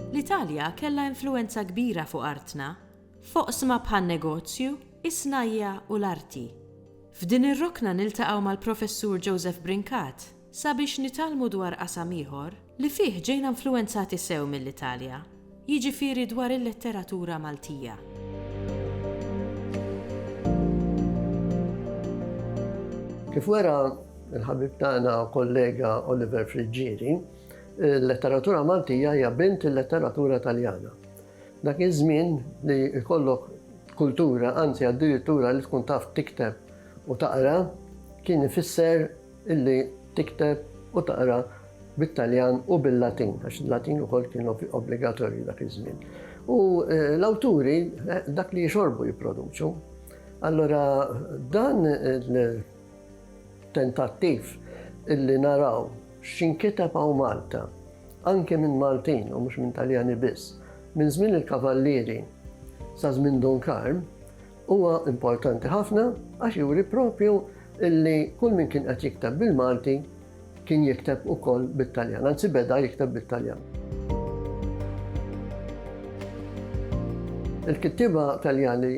L-Italja kellha influwenza kbira fuq artna, f'oqsma bħan-negozju, is-snajja' u l-arti. F'din ir-rokna niltaqgħu mal-Professur Joseph Brincat, sabiex nitgħallmu dwar qasam ieħor li fih ġejna influwenzati sew mill-Italja, jiġifieri dwar il-letteratura Maltija. Kif wera l-ħabib tagħna u kollega Oliver Friggieri, il-letteratura Maltija hija bint il-letteratura Taljana. Dak iż-żmien li jkollok kultura, anzi addirittura li tkun taf tikteb u taqra, kien ifisser illi tikteb u taqra bit-Taljan u bil-Latin, għax il-Latin ukoll kien obbligatorju dak iż-żmien. U l-awturi dak li jixorbu jipproduċu. Allora dan il-tentattiv illi naraw x'inkiteb hawn Malta, anke minn Maltin u mhux minn Taljani biss, minn żmien il-Kavallieri sa żmien Dun Karm, Huwa importanti ħafna għax juri proprju li kull min kien qed jikteb bil-Malti kien jikteb ukoll bit-Taljan, anzi beda jikteb bit-Taljan. Il-kittieba Taljani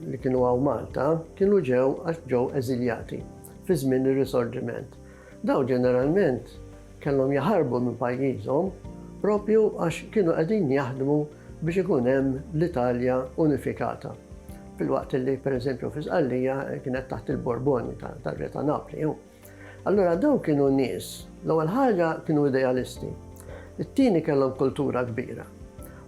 li kienu hawn Malta kienu ġew għax ġew eżiljati fi żmien ir-Risorġiment. Dawn ġeneralment Kellhom jaħarbu minn pajjiżhom proprju għax kienu qegħdin jaħdmu biex ikun hemm l-Italja unifikata. Filwaqt li, per eżempju, fi Sqallija kienet taħt il-Borboni tar-Re ta' Napli. Allura daw kienu nies, l-ewwel ħaġa kienu idealisti, it-tieni kellhom kultura kbira.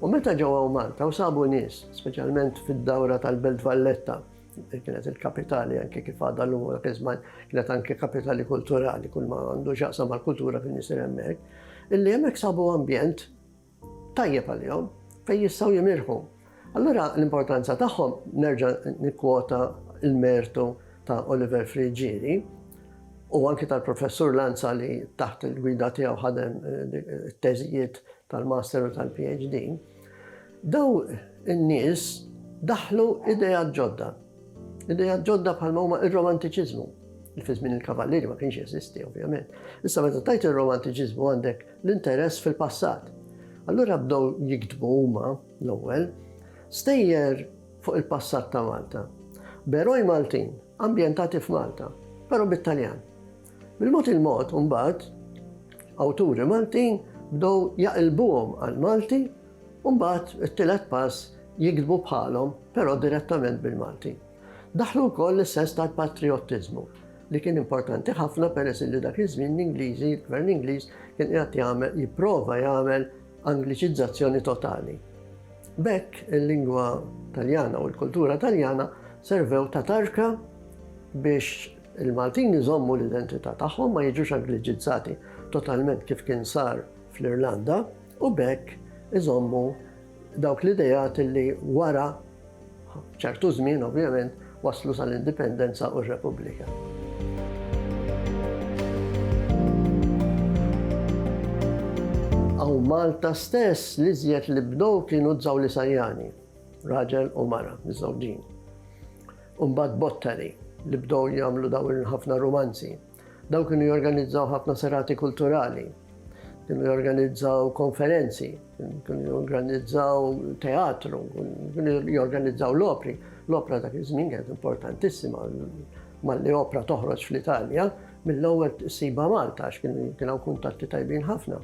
U meta ġew hawn Malta u sabu nies, speċjalment fid-dawra tal-Belt Valletta, Kienet il-kapitali anke kif għadha llum u dak iż-żman kienet anke kapitali kulturali kull ma għandu x'jaqsam mal-kultura kien isir hemmhekk, illi hemmhekk sabu ambjent tajjeb għalihom fejn jistgħu jimirħu. Allura l-importanza tagħhom nerġa' nikkwota l-mertu ta' Oliver Frigieri u anke tal-professur Lanza li taħt il-gwida tiegħu ħadem it-teżijiet tal-master u tal-PhD. Dawn in-nies daħħlu ideat ġodda. Ideat ġodda bħalma huma ir-romantiċiżmu. Fi żmien il-kavallieri ma kienx jeżisti ovvjament. Issa meta tajt ir-romantiċiżmu għandek l-interess fil-passat. Allura bdew jiktbu huma l-ewwel stejjer fuq il-passat ta' Malta. Beroj Maltin, ambjentati f'Malta, però bit-Taljan. Bil-mod il-mod, imbagħad, awturi Maltin bdew jaqilbuhom għall-Malti u mbagħad it-tielet pass jiktbu bħalhom, però direttament bil-Malti. Daħlu wkoll is-sens tal-patrijottiżmu li kien importanti ħafna peress li dak iż-żmien l-Ingliżi, l-Gvern Ingliż kien qiegħed jagħmel jipprova jagħmel Angliċizzazzjoni totali. Bekk il-lingwa Taljana u l-kultura Taljana servew ta' tarka biex Il-Maltin iżommu l-identità tagħhom, ma jiġux Angliċizzati totalment kif kien sar fl-Irlanda, u b'hekk iżommu dawk l-ideat li wara ċertu żmien ovvjament waslu sal-Indipendenza u r-Repubblika. Malta stess li żjed li bdew kienu t-Żawlisajani, raġel u mara, miżżewġin. u mbagħad Bottari li bdew jagħmlu dawn il-ħafna rumanzi. Dawn kienu jorganizzaw ħafna serati kulturali, kienu jorganizzaw konferenzi, kienu jorganizzaw teatru, kienu jorganizzaw l-opri. L-opra dak iż-żmien kienet importantissima malli opra toħroġ fl-Italja, mill-ewwel siba Malta għax kienu hawn kuntatti tajbin ħafna.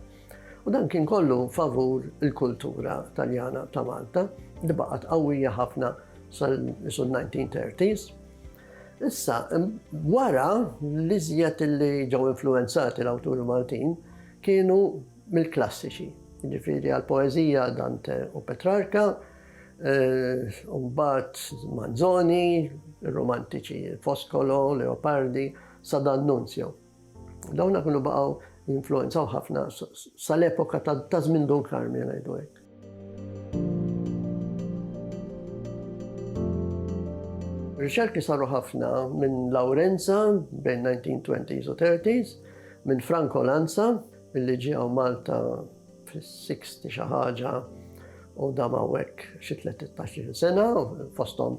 U dan kien kollu favur il-kultura Taljana ta' Malta li baqgħet qawwija ħafna sal-bidu 1930s. Issa, wara l-iżjed li ġew influwenzati l-awturi Maltin kienu mill-klassiċi, jiġifieri għall-poeżija Dante u Petrarca, u mbagħad Manzoni, ir-Romantiċi Foscolo, Leopardi, sa D'Annunzio. Dawna kienu baqgħu jinfluwenzaw ħafna sal-epoka ta' żmien Dun Karmien ngħidu hekk. Riċerki saru ħafna minn Lawrenza bejn 1920s u 30s, minn Franco Lanza, illi ġie għaw Malta fis-60 xi ħaġa u dam hawnhekk xi 13 sena, fosthom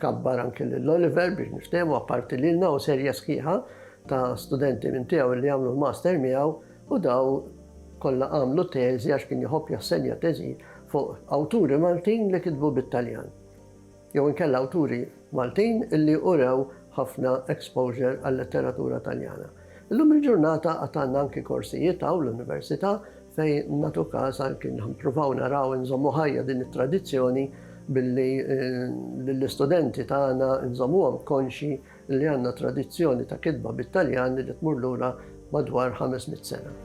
Kabbar anke lil Oliver biex niftehmu apparti lilna u serje sħiħa ta' studenti minn tiegħu li għamlu l-master miegħu u daw kollha għamlu teżi għax kien jħobb jassenja teżi fuq awturi Maltin li kitbu bit-Taljan. Jew inkella awturi Maltin illi urew ħafna exposure għal-letteratura Taljana. Illum il-ġurnata għad għandna anki korsijiet hawn l-Università fejn nagħtu każ anki nippruvaw naraw inżommu ħajja din it-tradizzjoni billi lill-istudenti tagħna nżommuhom konxji li għandna tradizzjoni ta' kitba bit-Taljan li tmur lura madwar ħames mitt sena.